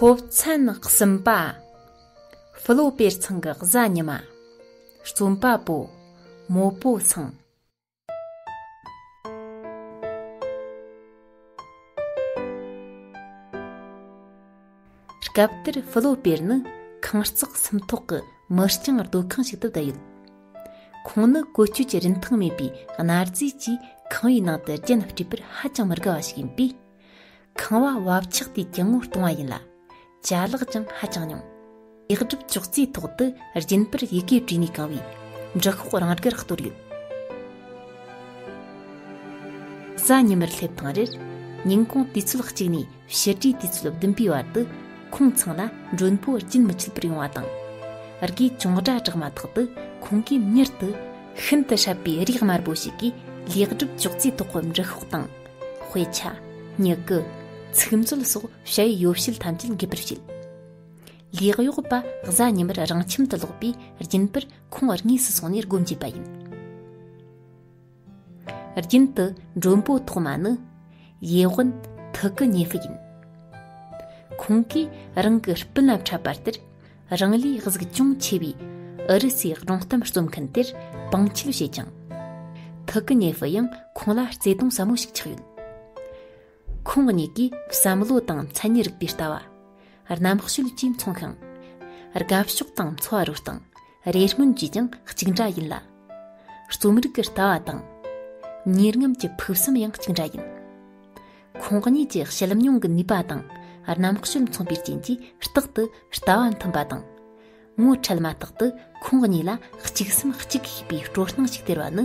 ཚོགས་མཚན་གསུམ་པ། ཧྥུ་ལོ་པེར་ཚང་གི་གཟའ་ཉི་མ། རྩོམ་པ་པོ། མོ་པོ་ཚང། སྐབས་དེར་ཧྥུ་ལོ་པེར་ནི་ཁང་བརྩེགས་སུམ་ཐོག་གི་མི་རྐྱང་སྡོད་ཁང་ཞིག་ཏུ་བསྡད་ཡོད། ཁོང་ནི་བཀོལ་སྤྱོད་ཀྱི་རིན་ཐང་མེད་པའི་གནའ་རྫས་ཀྱིས་ཁང་བའི་ནང་དུ་རྒྱན་སྤྲས་པར་ཧ་ཅང་མི་དགའ་བ་ཞིག་ཡིན་པས། ཁང་བ་བབ་ཆགས་དུས་ཀྱང་ངོ་གཏོང་བ་ཡིན་ལ། བྱ་གླག་ཀྱང་ཧ་ཅང་ཉུང། ལེགས་གྲུབ་ཅོག་ཙེའི་ཐོག་ཏུ་རྒྱུན་པར་ཡི་གེ་བྲིས་ནས་གང་བའི་འབྲི་ཤོག་རང་དགར་གཏོར་ཡོད། གཟའ་ཉི་མར་སླེབས་དང་རེར་ཉིན་གུང་དུས་ཚོད་གཅིག་ནས་ཕྱི་དྲོའི་དུས་ཚོད་བདུན་པའི་བར་དུ་ཁོང་ཚང་ལ་མགྲོན་པོ་རྒྱུན་མི་ཆད་པར་ཡོང་བ་དང། རྒས་གཅོང་སྒྲ་གྲགས་མ་ཐག་ཏུ་ཁོང་གིས་མྱུར་དུ་ཤིན་ཏུ་ཧྲབ་པའི་རིགས་དམར་པོ་ཞིག་གིས་ལེགས་གྲུབ་ཅོག་ཙེའི་ཐོག་གི་འབྲི་ཤོག་དང། དཔེ་ཆ། མྱུ་གུ། ཚིག་མཛོད་སོགས་བྱ་བའི་ཡོ་བྱད་ཐམས་ཅད་འགེབས་པར་བྱེད། ལས་གཡོག་པ་གཟའ་ཉི་མར་རང་ཁྱིམ་དུ་ལོག་པའི་རྒྱུན་པར་ཁོང་བར་དངོས་སུ་སོང་ནས་སྒོ་འབྱེད་པ་ཡིན། རྒྱུན་དུ་མགྲོན་པོ་ཐོག་མ་ནི་ཡེ་ཝན་ཐུག་གི་ཉེ་ཧྥི་ཡིན། ཁོང་གིས་རང་གི་སྤུན་ལ་འཕྲད་པ་ལྟར་རང་ལས་གཟུགས་ཅུང་ཆེ་བའི་ཨུ་རུ་སུའི་སྒྲུང་གཏམ་རྩོམ་མཁན་དེར་དཔང་འཁྱིལ་བྱས་ཀྱང། ཐུག་གི་ཉེ་ཧྥི་ཡང་ཁོང་ལ་བརྩེ་དུང་ཟབ་མོ་ཞིག་ཆགས་ཡོད། ཁོང་གཉིས་ཀྱིས་བསམ་བློ་དང་མཚན་ཉིད་རིག་པའི་ལྟ་བ། རྣམ་དཔྱོད་བཅས་མཚུངས་ཤིང། དགའ་ཕྱོགས་དང་འཚོ་བ་རོལ་སྟངས་རེ་སྨོན་བཅས་ཀྱང་གཅིག་འདྲ་ཡིན་ལ། རྩོམ་རིག་གི་ལྟ་བ་དང། གཉེར་རྔམ་གྱི་ཕུགས་བསམ་ཡང་གཅིག་འདྲ་ཡིན། ཁོང་གཉིས་ཀྱི་བཤད་མྱོང་གི་ནུས་པ་དང་རྣམ་དཔྱོད་མཚུངས་པའི་རྐྱེན་གྱིས་རྟག་ཏུ་ལྟ་བ་མཐུན་པ་དང། ངོ་འཕྲད་མ་ཐག་ཏུ་ཁོང་གཉིས་ལ་གཅིག་སེམས་གཅིག་གིས་པའི་སྤྲོ་སྣང་ཞིག་སྟེར་བ་ནི་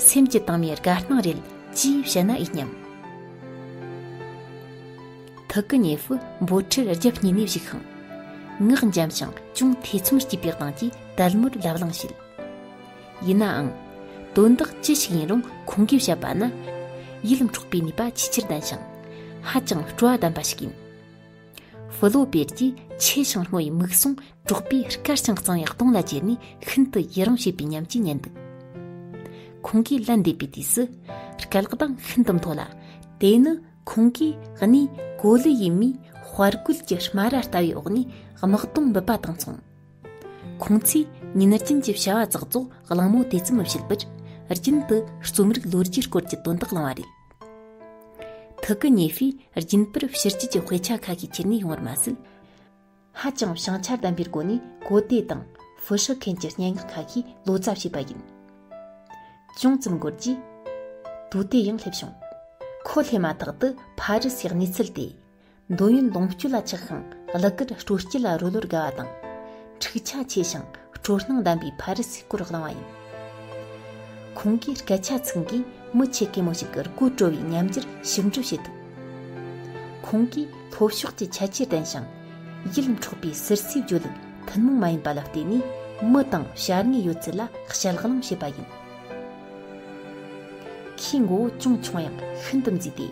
སེམས་ཀྱི་དྭངས་མའི་དགའ་སྣང་རེད་ཅེས་བཤད་ན་འོས་སྙམ། ཐུགས་ཀྱི་ཉེ་ཧྥུ་འབོ་ཁྲིར་རྒྱབ་བསྙེས་ནས་བཞུགས་ཤིང། ངག་འཇམ་ཞིང་ཅུང་ཐེ་ཚོམ་སྐྱེས་པའི་གདངས་ཀྱིས་དལ་མོར་ལབ་གླེང་བྱེད། ཡིན་ནའང། དོན་དག་ཅི་ཞིག་ཡིན་རུང་ཁོང་གིས་བཤད་པ་ནི་ཡིད་འཕྲོག་པའི་ནུས་པ་ཆེས་ཆེར་ལྡན་ཞིང་ཧ་ཅང་སྤྲོ་བ་ལྡན་པ་ཞིག་ཡིན། ཧྥུ་ལོ་པེར་གྱིས་ཆེས་ཞིང་སྔོ་བའི་མིག་ཟུང་དཀྲོགས་པས་དཀར་ཞིང་གཙང་བའི་སྟོང་ལ་ཅེར་ནས་ཤིན་ཏུ་ཡི་རང་བྱེད་པའི་ཉམས་ཀྱིས་ཉན་འདུག་ཁོང་གིས་ལན་འདེབས་པའི་དུས་སུ་སྐད་ལག་གདངས་ཤིན་ཏུ་མཐོ་ལ་དེ་ནི་ཁོང་གིས་གནས་གོ་ལའི་ཡུལ་མིའི་དཔའ་རྒོད་ཀྱི་སྨ་ར་ལྟ་བའི་འོག་ནས་དམག་དོན་འབུད་པ་དང་མཚུངས། ཁོང་ཚོས་ཉིན་རྒྱུན་གྱི་བྱ་བ་ཙག་ཙོག་གླེང་མོལ་དེ་ཙམ་མི་བྱེད་པར་རྒྱུན་དུ་རྩོམ་རིག་ལོ་རྒྱུས་སྐོར་གྱི་དོན་དག་གླེང་བ་རེད། ཐུགས་ཀྱི་ཉི་ཤུའི་རྒྱུན་པར་ཕྱི་རྒྱུད་ཀྱི་དཔེ་ཆ་ཁ་ཤས་ཁྱེར་ནས་ཡོང་བར་མ་ཟད། ཧ་ཅང་བྱང་ཆ་ལྡན་པའི་སྒོ་ནས་གོ་བདེ་དང་ཧྥུ་ཧྲི་མཁན་གྱི་སྙན་ངག་ཁ་ཤས་ལོ་ཙཱ་བྱས་པ་ཡིན། ཅུང་ཙམ་འགོར་རྗེས། དུས་དེ་ཡང་སླེབས་བྱུང། ཁོ་སླེབས་མ་ཐག་ཏུ་ཕ་རི་སིའི་གནས་ཚུལ་དེ། འདོད་ཡོན་ལོངས་སྤྱོད་ལ་ཆགས་ཤིང་བླུ་གར་སྤྲོ་སྐྱིད་ལ་རོལ་བར་དགའ་བ་དང། འཁྲིག་ཆ་ཆེ་ཞིང་སྤྲོ་སྣང་ལྡན་པའི་ཕ་རི་སིའི་སྐོར་བླངས་བ་ཡིན། ཁོང་གིས་སྐད་ཆ་ཚིག་འགས་མི་ཆེ་གེ་མོ་ཞིག་གི་རྐུ་བྲོ་བའི་ཉམས་འགྱུར་ཞིབ་འཇུག་བྱེད་ཐུབ། ཁོང་གིས་ལྷོ་ཕྱོགས་ཀྱི་ཁྱད་ཆོས་ལྡན་ཞིང། ཡིད་འཕྲོག་པའི་ཟུར་ཟའི་བརྗོད་ལུགས་ཐུན་མོང་མ་ཡིན་པ་ལ་བརྟེན་ནས་མི་དང་བྱ་དངོས་ཡོད་ཚད་ལ་ཞལ་གླེང་བྱེད་པ་ཡིན། ཁོའི་མགོ་བོ་ཅུང་ཆུང་ཡང་ཤིན་ཏུ་མཛེས་ཏེ།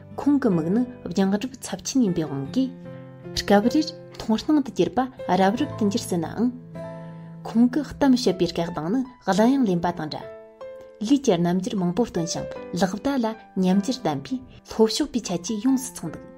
ཁོང་གི་མིག་ནི་རྒྱང་གྲབས་ཚབས་ཆེན་ཡིན་པའི་དབང་གིས། སྐབས་རེར་མཐོང་སྣང་དུ་གྱུར་པ་རབ་རིབ་ཏུ་འགྱུར་སྲིད་ནའང། ཁོང་གི་གཏམ་བཤད་པའི་སྐད་གདངས་ནི་གླུ་དབྱངས་ལེན་པ་དང་འདྲ། ལུས་ཀྱི་རྣམ་འགྱུར་མང་པོ་སྟོན་ཞིང་ལག་བརྡ་ལ་ཉམས་འགྱུར་ལྡན་པས་ལྷོ་ཕྱོགས་པའི་ཁྱད་ཆོས་ཡོངས་སུ་མཚོན་འདུག།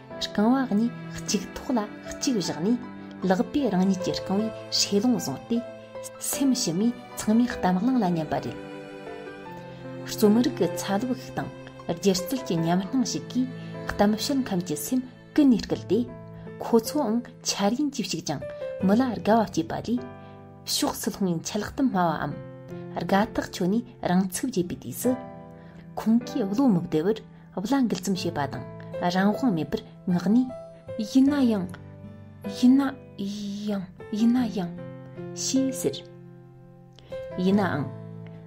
རྐང་བ་གཉིས་གཅིག་ཐོག་ལ་གཅིག་བཞག་ནས་ལག་པས་རང་ཉིད་ཀྱི་རྐང་བའི་ཧྲེ་ལུང་བཟུང་སྟེ་སེམས་ཕྱི་མའི་ཚང་མའི་གཏམ་གླེང་ལ་མཉན་པ་རེད། རྩོམ་རིག་གི་ཚ་ལུ་ཞིག་དང་སྒྱུ་རྩལ་གྱི་ཉམས་སྣང་ཞིག་གིས་གཏམ་བཤད་མཁན་གྱི་སེམས་ཀུན་ནས་བསྐུལ་ཏེ་ཁོ་ཚོའང་འཆར་ཡན་གྱིས་ཤིག་ཅིང་མི་ལ་དགའ་བ་སྐྱེས་པ་ལས་ཕྱོགས་སུ་ལྷུང་བའི་འཆལ་གཏམ་སྨྲ་བའམ་དགའ་ཐག་ཆོད་ནས་རང་ཚུགས་རྒྱས་པའི་དུས་སུ་ཁོང་གིས་བློ་མི་བདེ་བར་བླ་འགུལ་ཙམ་བྱེད་པ་དང་རང་དབང་མེད་པར་བསྔགས་ནས། ཡིན་ན་ཡང། ཡིན་ན་ཡང། ཡིན་ན་ཡང། ཞེས་ཟེར། ཡིན་ནའང།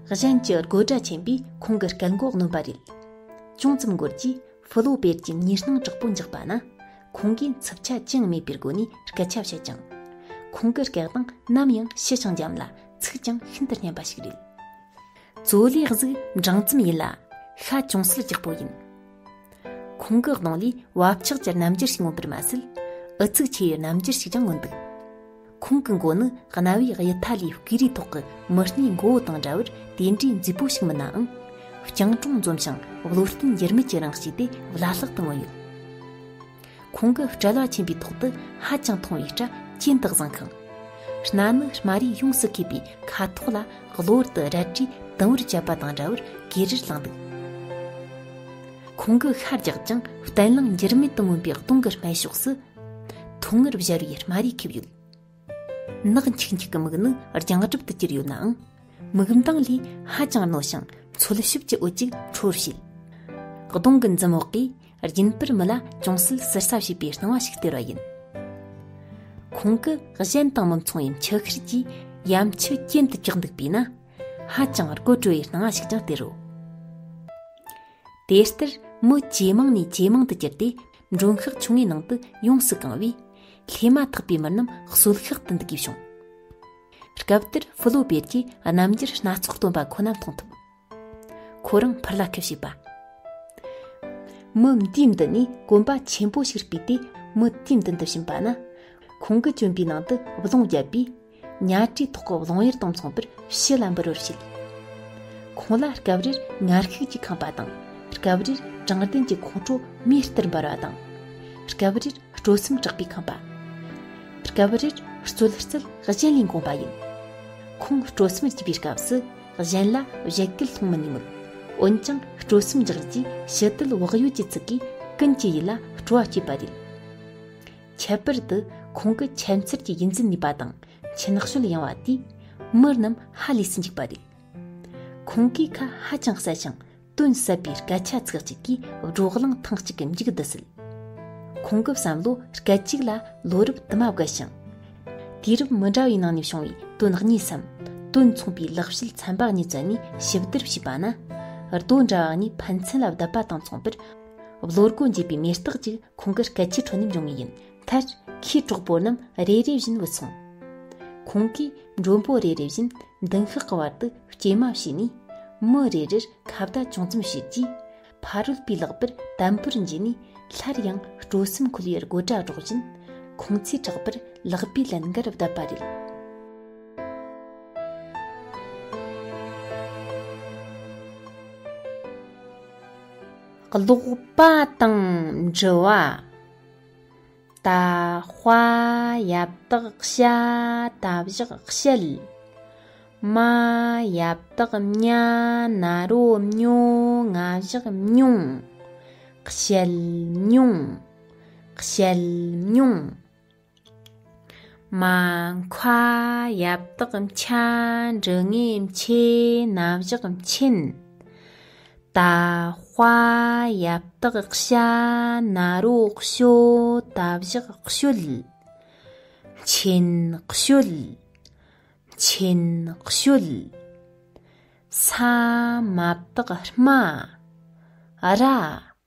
གཞན་གྱི་དགོད་སྒྲ་ཆེན་པོས་ཁོང་གི་སྐད་མགོ་གནོན་པ་རེད། ཅུང་ཙམ་འགོར་རྗེས་ཧྥུ་ལོ་པེར་གྱི་ཉེར་སྣང་དྲག་པོ་འཇགས་པ་ན། ཁོང་གིས་འཚུབ་ཆ་ཅི་ཡང་མེད་པའི་སྒོ་ནས་སྐད་ཆ་བཤད་ཅིང། ཁོང་གི་སྐད་གདངས་ནམ་ཡང་ཕྱི་ཞིང་འཇམ་ལ་ཚིག་ཀྱང་ཤིན་ཏུ་སྙན་པ་ཞིག་རེད། བཙོ་ལས་གཟུགས་འབྲིང་ཙམ་ཡིན་ལ་ཤ་ཅུང་ཟད་རྒྱགས་པོ་ཡིན། ཁོང་གི་གདོང་ལས་བབ་ཆགས་ཀྱི་རྣམ་འགྱུར་ཞིག་མངོན་པར་མ་ཟད་ཨུ་ཚུགས་ཆེ་བའི་རྣམ་འགྱུར་ཞིག་ཀྱང་མངོན་འདུག་ཁོང་གི་མགོ་ནི་གནའ་བོའི་དབྱི་ཐ་ལིའི་བརྐོས་རིས་ཐོག་གི་མི་སྣའི་མགོ་བོ་དང་འདྲ་བར་དེ་འདྲའི་མཛེས་པོ་ཞིག་མིན་ནའང། རྐྱང་གྲོང་འཛོམས་ཤིང་བློ་བརྟན་འགྱུར་མེད་ཀྱི་རང་བཞིན་དེ་བླ་ལྷག་ཏུ་མངོན་ཡོད། ཁོང་གི་སྤྲེལ་བ་ཆེན་པོའི་ཐོག་ཏུ་ཧ་ཅང་ཐུང་བའི་སྐྲ་གྱེན་དུ་བཟང་ཁང། སྣ་ནི་དམའ་རིས་ཡོངས་སུ་གས་པའི་ཁ་དོག་ལ་གློ་བུར་དུ་རལ་གྲིས་དུམ་བུར་བཅད་པ་དང་འདྲ་བར་གས་རིར་བསླངས་འདུག་ཁོང་གི་ཤ་རྒྱགས་ཀྱང་གཏན་བརླིང་འགྱུར་མེད་དུ་མངོན་པའི་སྟོང་གི་སྨད་ཕྱོགས་སུ། ཐུང་ངུར་བཞར་བའི་དམའ་རིས་ཁེབས་ཡོད། ནག་འཁྱིག་འཁྱིག་གི་མིག་ནི་རྒྱང་གྲབ་ཏུ་གྱུར་ཡོད་ནའང་མིག་མདངས་ལས་ཧ་ཅང་རྣོ་ཞིང་འཚོལ་ཞིབ་ཀྱི་འོད་ཅིག་འཕྲོ་རུ་བྱེད། གདོང་གི་འཛུམ་འོག་གིས་རྒྱུན་པར་མི་ལ་ཅུང་ཟད་ཟུར་ཟ་བྱེད་པའི་སྣང་བ་ཞིག་སྟེར་བ་ཡིན། ཁོང་གི་གཞན་དང་མི་མཚུངས་པའི་མཆུ་ཤེལ་གྱིས་ཡ་མཆུ་གྱེན་དུ་བཀྱགས་འདུག་པས་ན་ཧ་ཅང་རྒོད་བྲོ་བའི་སྣང་བ་ཞིག་ཀྱང་སྟེར་རོ། དེ་ལྟར་མི་ཇེ་མང་ནས་ཇེ་མང་དུ་གྱུར་ཏེ་མགྲོན་ཤག་ཆུང་ངུའི་ནང་དུ་ཡོངས་སུ་གང་བས། ལྷས་མ་ཐག་པའི་མི་རྣམས་གསོལ་ཤག་ཏུ་འདུ་དགོས་བྱུང། སྐབས་དེར་ཧྥུ་ལོ་པེར་གྱིས་རྣམ་འགྱུར་སྣ་ཚོགས་སྟོན་པ་ཁོ་ན་མཐོང་ཐུབ། ཁོ་རང་ཕུར་ལ་ཁེབས་བྱས་པ། མི་འདི་འདི་ནི་གོམ་པ་ཆེན་པོ་ཞིག་སྤུས་ཏེ་མི་དེ་འདི་འདི་བྱིན་པ་ན། ཁོང་གི་གྱོན་པའི་ནང་དུ་བརློང་བརྒྱབ་པས། གཉའ་བཀྲུས་ཐོག་གི་ལོང་ཡར་དང་མཚུངས་པར་ཕྱི་ལ་འབུར་བར་བྱེད། ཁོང་ལ་སྐབས་རེར་ངར་ཤུགས་ཀྱིས་འཁང་པ་དང་སྐབས་རེར་དྲང་བདེན་གྱི་ཁོང་ཁྲོ་མིའི་ལྟར་འབར་བ་དང། སྐབས་རེར་སྤྲོ་སེམས་དྲག་པའི་འཁང་པ། སྐབས་རེར་རྩོད་རྩལ་གཞན་ལས་འགོངས་པ་ཡིན། ཁོང་སྤྲོ་སེམས་རྒྱས་པའི་སྐབས་སུ་གཞན་ལ་བཞད་གད་མཐོང་མི་ནུས་མོད། འོན་ཀྱང་སྤྲོ་སེམས་འཇགས་རྗེས་ཕྱི་དལ་བག་ཡོད་ཀྱི་ཚིག་གིས་ཀུན་གྱི་ཡིད་ལ་སྤྲོ་བ་བསྐྱེད་པ་རེད། ཁྱད་པར་དུ་ཁོང་གི་ཁྱད་མཚར་གྱི་དབྱིན་ཛིན་ནུས་པ་དང་མཆན་གསོལ་ཡང་བ་དེས་མི་རྣམས་ཧ་ལས་སུ་འཇིགས་པ་རེད། ཁོང་གིས་ཁ་ཧ་ཅང་གསལ་ཞིང་དོན་ཟབ་པའི་སྐད་ཆ་ཚིག་གཅིག་གིས་བགྲོ་གླེང་ཐེངས་གཅིག་གི་མཇུག་བསྡུ་སྲིད། ཁོང་གི་བསམ་བློ་སྐད་ཅིག་ལ་ལོ་རབས་དུ་མ་བརྒལ་ཞིང། དུས་རབས་མི་འདྲ་བའི་ནང་ནས་བྱུང་བའི་དོན་གཉིས་སམ་དོན་མཚུངས་པའི་ལེགས་བཤད་ཚན་པ་གཉིས་བཙལ་ནས་ཞིབ་བསྡུར་བྱས་པ་ན། རྡོ་འདྲ་བ་གཉིས་ཕན་ཚུན་ལ་བསྡད་པ་དང་མཚུངས་པར། བློ་སྒོ་འབྱེད་པའི་མེ་སྟག་ཅིག་ཁོང་གི་སྐད་ཆའི་ཁྲོད་ནས་འབྱུང་ངེས་ཡིན། མཐར། ཁོས་གྲོགས་པོ་རྣམས་རེ་རེ་བཞིན་འུད་སོང། ཁོང་གིས་མགྲོན་པོ་རེ་རེ་བཞིན་མདུན་ཤག་གི་བར་དུ་སྐྱེལ་མ་བྱས་ནས། མི་རེ་རེར་ཁ་བརྡ་ཅུང་ཙམ་བྱས་རྗེས། ཕ་རོལ་པོའི་ལག་པར་དམ་པོར་འཇུས་ནས་སླར་ཡང་སྤྲོ་སེམས་འཁོལ་བའི་དགོད་སྒྲ་སྒྲོག་བཞིན། ཁོང་ཚོའི་གྲགས་པར་ལག་པས་ལན་འགར་བརྡབས་པ་རེད། ཀློག་པ་དང་འབྲི་བ། ད་དཔའ་ཡབ་དག་བྱ་ད་བཞག་བཤད། མ་ཡབ་དག་མྱ་ན་རོ་མྱོ་ང་བཞག་མྱོང། བཤད་མྱོང། བཤད་མྱོང། མ་མཁའ་ཡབ་དག་འཆའ་འབྲི་ངེས་མཆེ་ན་བཞག་མཆིན། ད་དཔའ་ཡབ་དག་ཤ་ན་རོ་བཤོ་ད་བཞག་བཤོལ། མཆིན་བཤོལ། མཆིན་བཤོལ། ས་མ་བདག་སྨྲ་ར།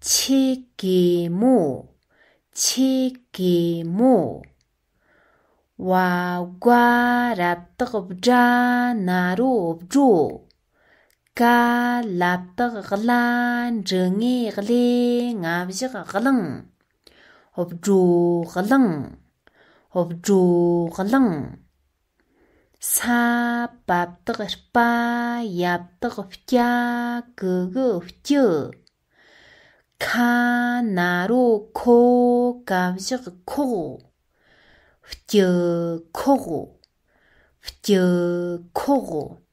ཆེ་གེ་མོ། ཆེ་གེ་མོ། བ་རྒ་རབ་དག་བཛྲ་ན་རོ་བྲོ། ཀ་ལབ་དག་བླ་འབྲི་ངེ་ལྷེ་ང་བཞག་གླིང། བྲོ་གླིང། བྲོ་གླིང། ས་བབས་དག་དཔའ་ཡབ་དག་སྐྱ་གུ་གུ་སྐྱུ། ཁ་ན་རོ་ཁོ་ཀ་བཞག་ཁོག་སྐྱུ་ཁོག། སྐྱུ་ཁོག།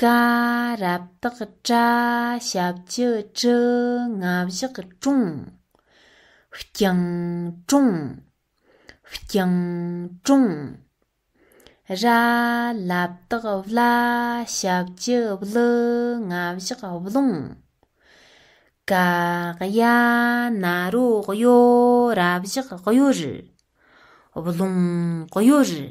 ཀ། རབ་བཏགས་བཀྲ་ཞབས་ཀྱི་དྲི་ལྔ་བཞག་དྲུང། རྐྱང་དྲུང། རྐྱང་དྲུང། ར། ལབ་བཏགས་བླ་ཞབས་ཀྱི་བླུ་ལྔ་བཞག་བླུང། ཀ། གཡའ་ན་རོ་གཡོ་ར་བཞག་གཡོ་རུ། བླུང་གཡོ་རུ།